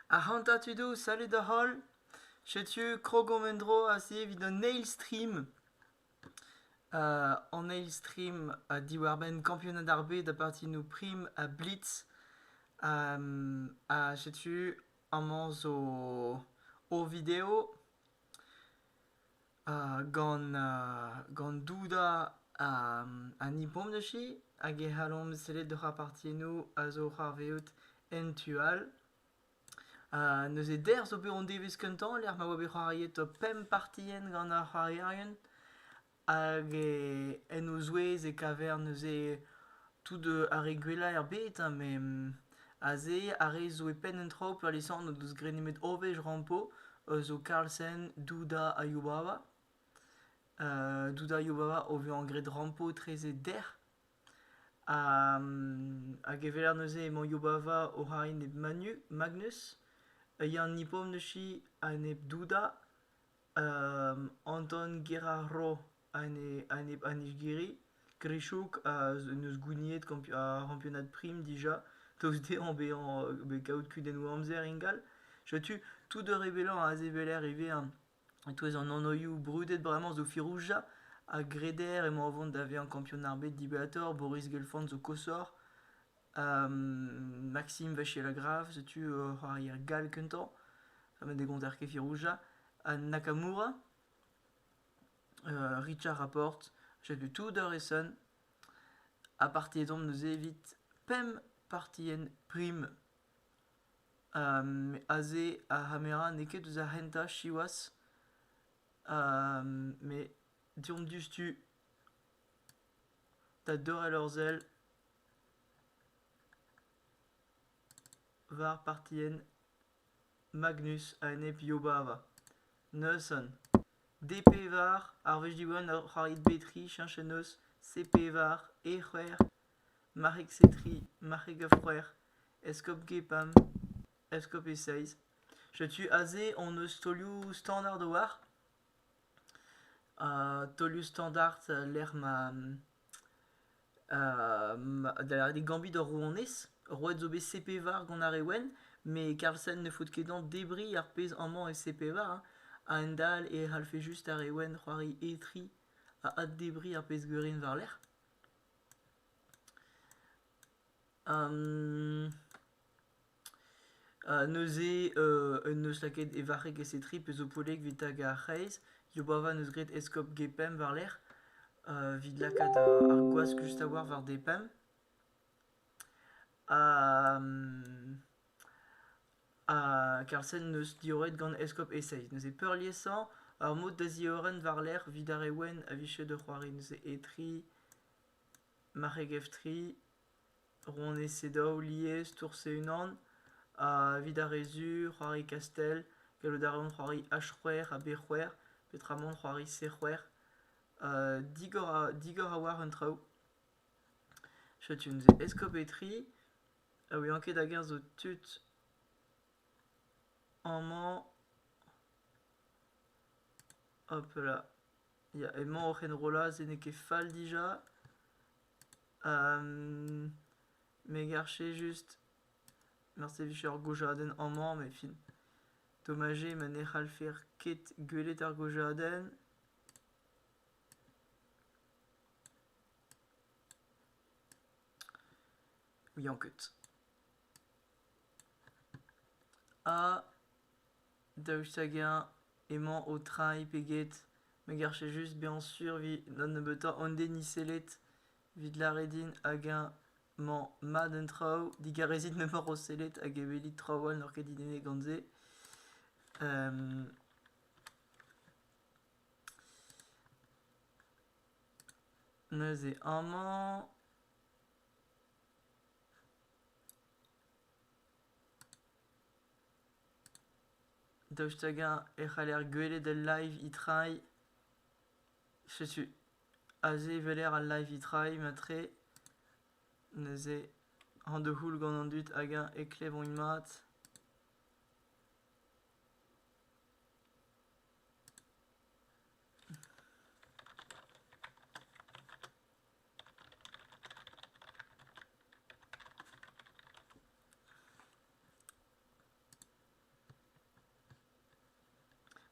Ac'hanta tud ouz, salud da-holl. Setu krogomp en-dro aze evit an eil stream. an eil stream diwar-benn kampionad ar bed ha partidoù prim ha blitz. ha setu amañ zo o video. gant doudañ an ipomniji hag e c'hallomp sellet hoc'h apartiennoù a zo oc'h arvezout en tu all. neuze dec'h zo bet hon devezh kentañ lec'h ma oa bet c'hoariet pemp partienn gant ar c'hoarierien hag en o zouez e kaver neuze Tout ar re gwellañ er bed, ha me aze ar re zo e penn an traoù peurliesañ n'o deus graet nemet ober rampo zo Carlsen, Duda ha Yubawa. Duda ha Yubawa o vezañ graet rampo etreze dec'h. Hag eveller neuze emañ Yubawa oc'h arri nep Manu- Magnus, Yann Nipom neuze a-enep Duda, Anton Gerarro. an Nijgiri. Grishouk n'eus gouniet ar c'hampionad prim dija, daoust dezhañ bezañ kaout kudennoù amzer ingal. Setu tout ur rebellañ a zeveller ivez. E-touez an anoioù brudet bremañ zo Firouzja a greder emañ o vont da vezañ kampion ar bed dibaotr, Boris Gelfand zo koshoc'h, Maxime Vachier-Lagrave, setu c'hoarier gall kentañ, met ne gonter ket Firouzja, ha Nakamura. Richard Rapporte. Setu tout ar re-sen. Ha partiet omp neuze evit pemp partien prim. Um, aze ar c'hamera n'eo ket eus ar c'hentañ siwazh. Um, met deomp diouzhtu da deurel hor sell war partien Magnus a-enep Yobava. Neuson. D-pevar, ar wech Diwan a c'hoarit Betri cheñch en noz C-pevar, E c'hwec'h, Marc'heg Setri, Marc'heg a c'hwec'h, Eskob Gepam, Eskob e seizh. Setu aze hon eus taolioù standard a-walc'h. Ha taolioù standard e-lec'h ma da lâret eo gambit hor rouanez. Roet zo bet CP-var gant ar re wenn, met Karlsen ne faot ket dezhañ debriñ ar pezh amañ e CP-var hein. A-hend-all e c'hallfe just ar re wenn c'hoari etriñ ha addebriñ ar pezh gwirion war-lerc'h. neuze un neus lakaet e varc'heg esetriñ pezh zo poellek evit tagañ ar c'hreiz Yobavan eus graet eskob Gepemp war-lerc'h evit lakaat ar gwask just a-walc'h war depemp ha Karlsen neus diorret gant eskob Eseid neuze peurliesañ ur mod da ziorren war-lerc'h evit ar re wenn a vije da c'hoari neuze etriñ marc'heg f3 Rouanezed daou lies tour-se unan, evit ar re zur, c'hoari kastell, gallout a reont c'hoari h-c'hwec'h ha b-c'hwec'h, peotramant c'hoari c-c'hwec'h. digor a- digor a oar an traoù. Setu neuze eskopetri, ha ouian ket hag-eñ zo tud amañ. Hopala, ya emañ oc'h enrollañ se n'eo ket fall dija. Me garche just... Morse e vije ur gojadenn amañ met fin. Tomajé ma ne c'hallfer ket gwelet ar gojadenn. ouian ket. Ha Daoust hag-eñ emañ o treiñ pe get me garfe just bezañ sur 'vit da nebeutañ an denis sellet 'vit lâret din hag-eñ 'mañ mat an traoù digarezit memeur o sellet hag evelit traoù all n'oc'h ket didennet gant se neuze amañ Daoust hag-eñ e c'haller gwelet al live-e-trai ? Setu aze weler al live-e-trai mat-tre. Neuze hañ da c'houl gant an dud hag-eñ e klevont mat.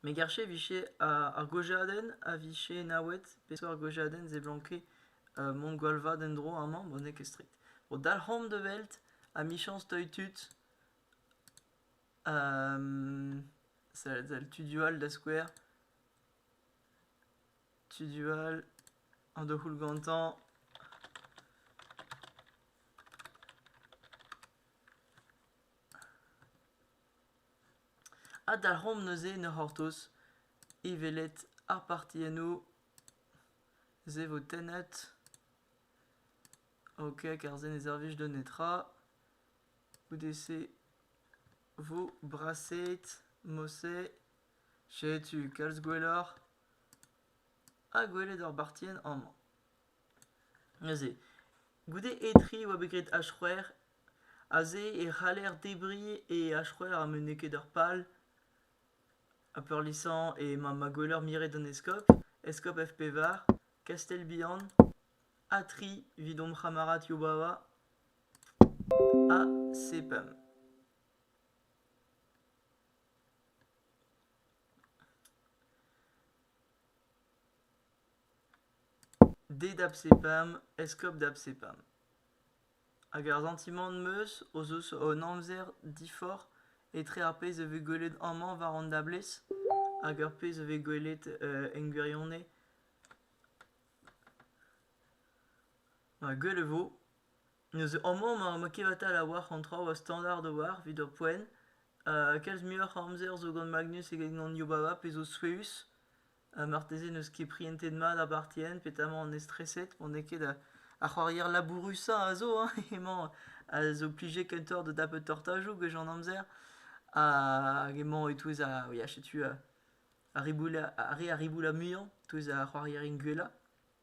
Me garfe 'vije ar gojadenn a vije enaouet peseurt gojadenn seblanke mont gwall vat en-dro amañ bon n'eo ket stret. Bo dalc'homp da welt amichañs teuy tud selled sell tudioù all da skouer. Tudu all, an daou c'houl gantañ. Adalc'homp neuze en hor c'hortoz e welet ar parti enno. Se vo tennet. Ok, kar se ne servij da netra. Goude-se vo brasaet, moset. Setu kalz gwelloc'h. ha gwelet ur bartienn amañ. Neuze, goude etriñ e oa bet graet H-c'hwec'h, aze e c'haller debriñ e H-c'hwec'h ha met n'eo ket ur pal. Ha peurliesañ emañ ma ma gweler miret an eskob, eskob F-pevar, Kastell-Bihan, ha tri evit hom c'hamarad Yobawa, ha sepemp. D d'Absepam, eskob d'Absepam. Hag ar santimant 'm eus o zeus hon amzer diforc'h etre ar pezh a vez gwelet amañ war an dablez hag ar pezh a vez gwelet en gwirionez. gwell e vo. Neuze amañ ma ma kevatal a-walc'h an traoù a standard a-walc'h evit ur poent. kalz muioc'h a amzer zo gant Magnus eget gant Yobava pezh zo souezhus. marteze n'eus ket prientet mat ar bartienn petamant on estreset pa n'eo ket ar c'hoarier labourusañ a zo hein emañ a zo plijet kentoc'h da dapout tortajoù gwech an amzer. hag emañ e-touez ar ya setu ar riboula ar re riboula muiañ e-touez ar c'hoarierien gwellañ.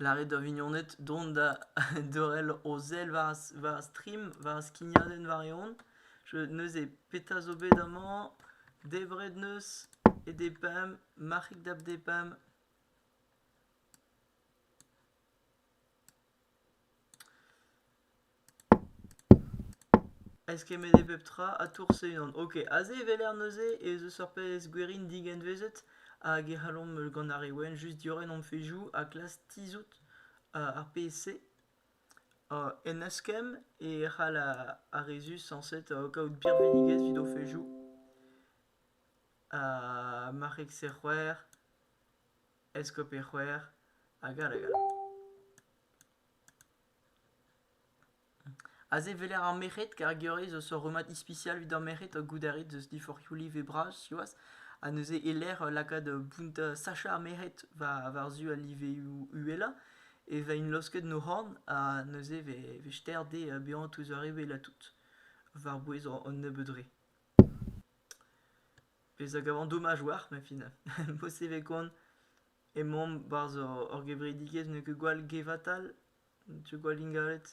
Lâret da vignoned dont da dorel o sell war ar stream, war ar skignadenn war-eeun. Neuze petra zo bet amañ? Debret 'neus e depemp, marc'hig da'p depemp. eskemmet eo pep tra ha tour Ceylon ok aze e-weler neuze ez eus ur pezh gwerin digenvezet hag e c'hallomp gant ar re wenn just diorren hon fezhioù ha klask tizhout ar pezh-se en eskemm e c'hall ar re zusañset kaout birvidigezh evit o fezhioù marc'heg-se c'hwec'h eskob-e c'hwec'h hag all hag all Aze e weler ar merc'hed kar gure zo ur rummad ispisial evit ar merc'hed goude ar red eus diforc'hioù live bras siwazh ha neuze e-lec'h lakaat bountañ sachañ ar merc'hed war-zu al liveoù uhelañ e vent laosket o c'horn ha neuze e vez ster dezhe bezañ touz ar re wellañ tout war-bouez an nebeud re. Pezh a gavan domaj oar ma fin. Mod-se e vez koant. Emaomp 'barzh ur gevredigezh n'eo ket gwall gevatal, n'eo ket gwall ingalet.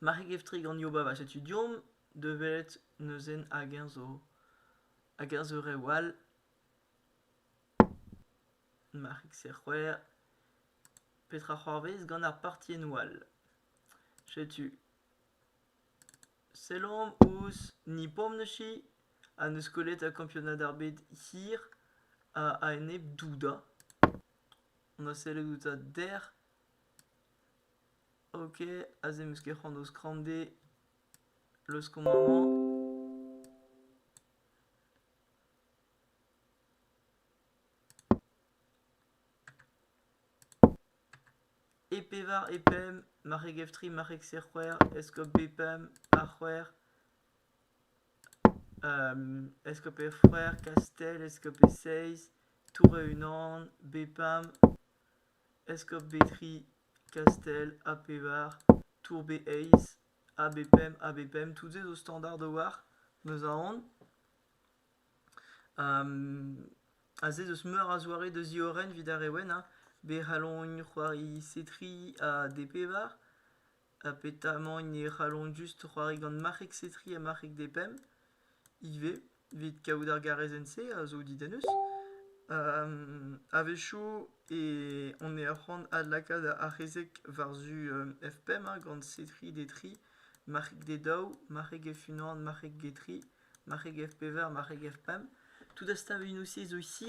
Marc'heg Eftrig an Yobava, setu deomp da welet neuzen hag-eñ zo hag-eñ zo rev all. Marc'heg Serc'hwec'h. Petra c'hoarvez gant ar partiennoù all? Setu. Sellomp ouzh Nipomnechy ha n'eus kollet kampionad ar bed hir a-enep Douda. On a sellet outañ dec'h. Ok, aze 'm eus ket c'hoant d'o skrande. Leuskomp amañ. E pevar e pemp marc'heg F3, marc'heg C-c'hwec'h, eskob B-pemp, A c'hwec'h, eskob F-c'hwec'h, Kastell, eskob E-seizh, Tour-e-Unan, B-pemp, eskob B-tri, Kastell, A pevar, Tour B-eizh, A-b-pemp, A-b-pemp, tout-se zo standard a-walc'h, 'm eus aon. Aze 'z eus meur a zoare da ziorren 'vit ar re wenn hein, be c'hallont c'hoari setriñ ha depevar, ha petamant ne c'hallont just c'hoari gant marc'heg setriñ ha marc'heg depemp ivez 'vit kaout ar garezenn-se a zo didennus. A-wechoù e on e arc'hant adlakaat ar c'hezeg war-zu F pemp gant setriñ detriñ. marc'heg get daou, marc'heg get unan, marc'heg get tri, marc'heg get pevar, marc'heg get pemp. Tout ar steuñvioù-se zo isi.